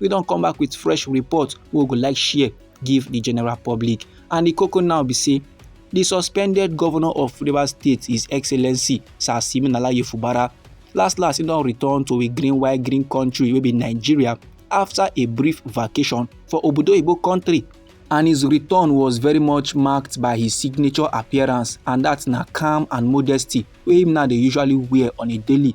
we don come back with fresh report wey we go like share give the general public and the koko now be say the suspended governor of rivers state his excellency sir siminala yefubara last last he don return to a green white green country wey be nigeria after a brief vacation for obodo oyibo country and his return was very much marked by his signature appearance and that na calm and modesty wey him now dey usually wear on a daily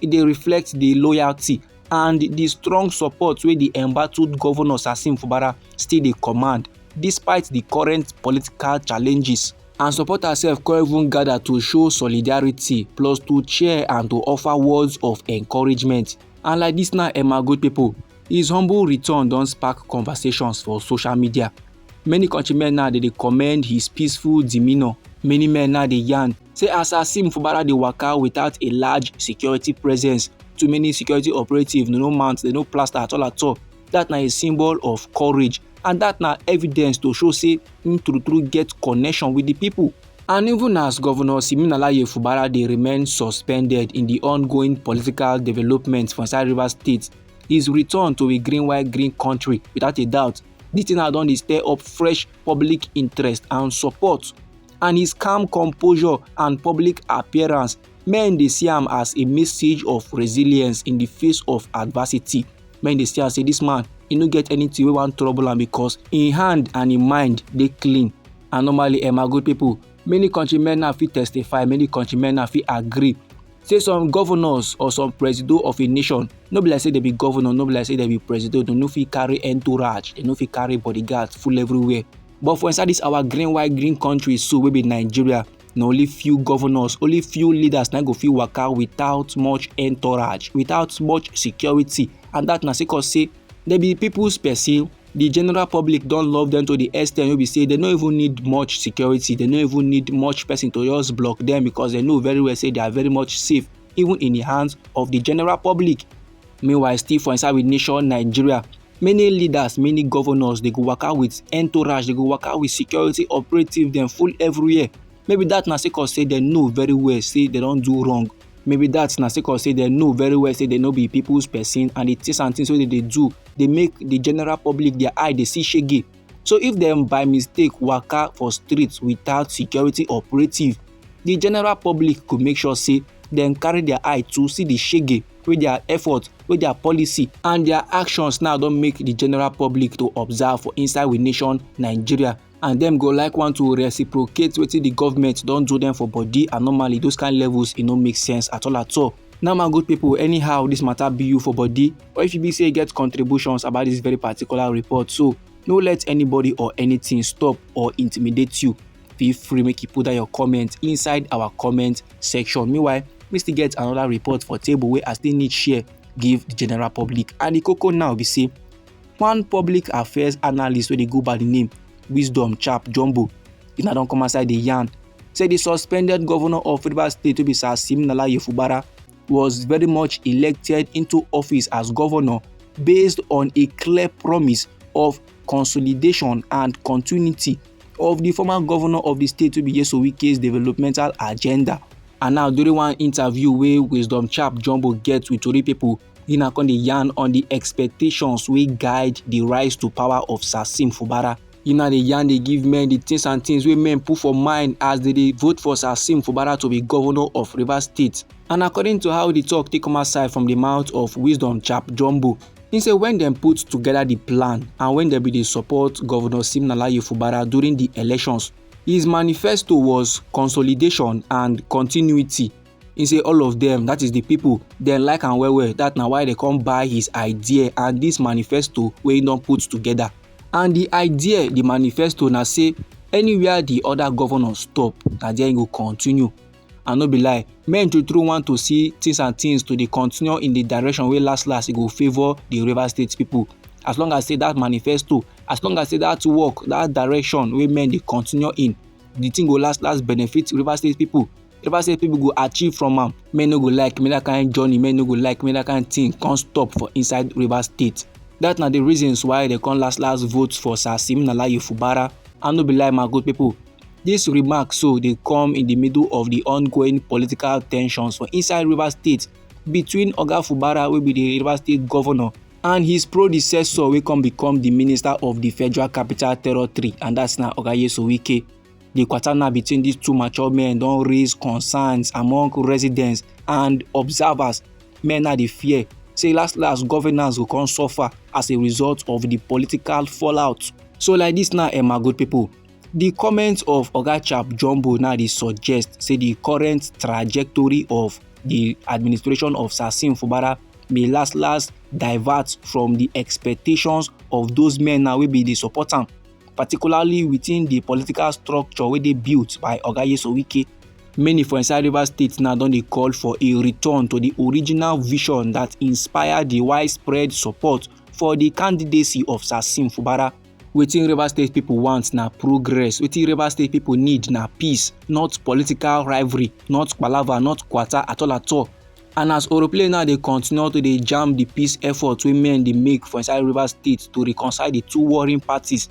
e dey reflect di loyalty and di strong support wey di embattled govnor sasim fubara still dey command despite di current political challenges. and supporters sef come even gather to show solidarity plus to cheer and to offer words of encouragement and like dis now emma good pipo his humble return don spark conversations for social media. Many countrymen now dey dey commend his peaceful demeanour. Many men now dey yarn say as Asim Fubara dey waka without a large security presence, too many security operatives no no mount, they no plaster at all at all. That na a symbol of courage and that na evidence to show say him true true get connection with the people. And even as Governor Siminalayi Fubara dey remain suspended in the ongoing political developments for inside Rivers State, his return to a green white green country without a doubt Di thing now don dey stir up fresh public interest and support and his calm composure and public appearance men dey see am as a message of resilience in the face of adversity men dey see am say this man e no get anything wey wan trouble am because im hand and im mind dey clean and normally eh my good people many countrymen now fit testify many countrymen now fit agree say some governors or some presido of a nation no be like say dem be governor no be like say dem be presido dem no fit carry entourage dem no fit carry bodyguards full everywhere but for inside this our green white green country so wey be nigeria na only few governors only few leaders na go fit waka without much entourage without much security and that na sake of say They be people's person. The general public don't love them to the extent you be say they don't even need much security. They don't even need much person to just block them because they know very well say they are very much safe even in the hands of the general public. Meanwhile, still for inside with nation Nigeria, many leaders many governors dey go waka with entourage dey go waka with security operative dem full everywhere maybe that na sake of say dem know very well say dem don do wrong maybe that na sake of say dem know very well say dem no be people's person and the things and things wey dem dey do dey make the general public their eye dey see shege so if dem by mistake waka for street without security operative the general public go make sure say dem carry their eye to see the shege wey their effort wey their policy and their actions now don make the general public to observe for inside we nation nigeria and dem go like want to reciprocate wetin the government don do them for body and normally those kind levels e no make sense at all at all now my good people anyhow this matter be you for body or if you be say you get contributions about this very particular report so no let anybody or anything stop or intimidate you feel free make you put down your comment inside our comment section meanwhile we still get another report for table wey i still need share give the general public and the koko now be say one public affairs analyst wey dey go by the name wisdom chap jumbo if na don come outside dey yarn say the suspended governor of rivers state wey be sir siminala yefubara was very much elected into office as governor based on a clear promise of consolidation and continuity of the former governor of the state wey be Nyesom Wike's developmental agenda. And now during one interview wey Wisdom Chap Jumbo get with Tori people, He na come dey yarn on the expectations wey guide the rise to power of Sasim Fubara. He na dey yarn dey give men the things and things wey men put for mind as they dey vote for Sasim Fubara to be governor of Rivers State. And according to how the talk take come outside from the mouth of Wisdom Chap Jumbo, he say when dem put together the plan and when dem be dey support Governor Simnalaye Fubara during the elections, his manifesto was consolidation and continuity. He say all of them, that is the people, dem like am well well that na why they come buy his idea and this manifesto wey he don put together and the idea the manifesto na say anywhere the other governors stop na there he go continue and no be lie men true true want to see things and things to dey continue in the direction wey last last e go favour the Rivers State people as long as say that manifesto as long as say that work that direction wey men dey continue in the thing go last last benefit Rivers State people if i say people go achieve from am men no go like me that kind journey men no go like me that kind thing come stop for inside rivers state that na the reasons why they come last last vote for sir siminalayi fubara i no be lie my good people This remark so dey come in the middle of the ongoing political tensions for inside Rivers State between Oga Fubara wey be the Rivers State governor and his predecessor wey come become the minister of the Federal Capital Territory and that's na Oga Yeso Wike. Di kwatana between dis two mature men don raise concerns among residents and observers. Men now dey fear say last last governance go come suffer as a result of di political fallout. So like dis now, um, my good pipo, di comment of Oga Chap Jumbo now dey suggest say di current trajectory of di administration of Sasim Fubara may last last divert from di expectations of those men now wey bin dey support am. particularly within di political structure wey dey built by oga yeso wike many for inside rivers state now don dey call for a return to di original vision dat inspire di widespread support for di candidacy of sassim fubara wetin rivers state pipo want na progress wetin rivers state pipo need na peace not political rivalry not palava not kwata at all at all And as Oroplay now dey continue to dey jam the peace effort wey men dey make for inside Rivers State to reconcile the two warring parties,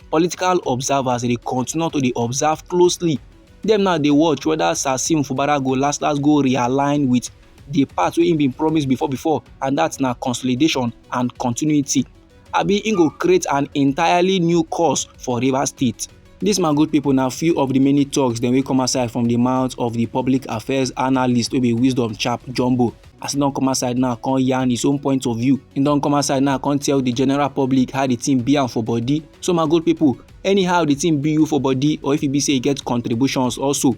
political observers dey continue to dey observe closely. Dem now dey watch whether Sasim Fubara go last last go realign with the part wey he been promise before before and that na consolidation and continuity. Abi he go create an entirely new course for Rivers State. Dis my good people na few of the many talks dem wey come outside from the mouth of the public affairs analyst wey be wisdom chap jumbo. As he don come outside now come yarn his own point of view. He don come outside now come tell the general public how the thing be am for body. So my good people anyhow the thing be you for body or if e be say e get contributions also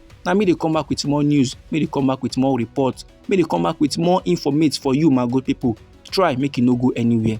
na me dey come back with more news me dey come back with more report me dey come back with more informate for you my good people try make you no go anywhere.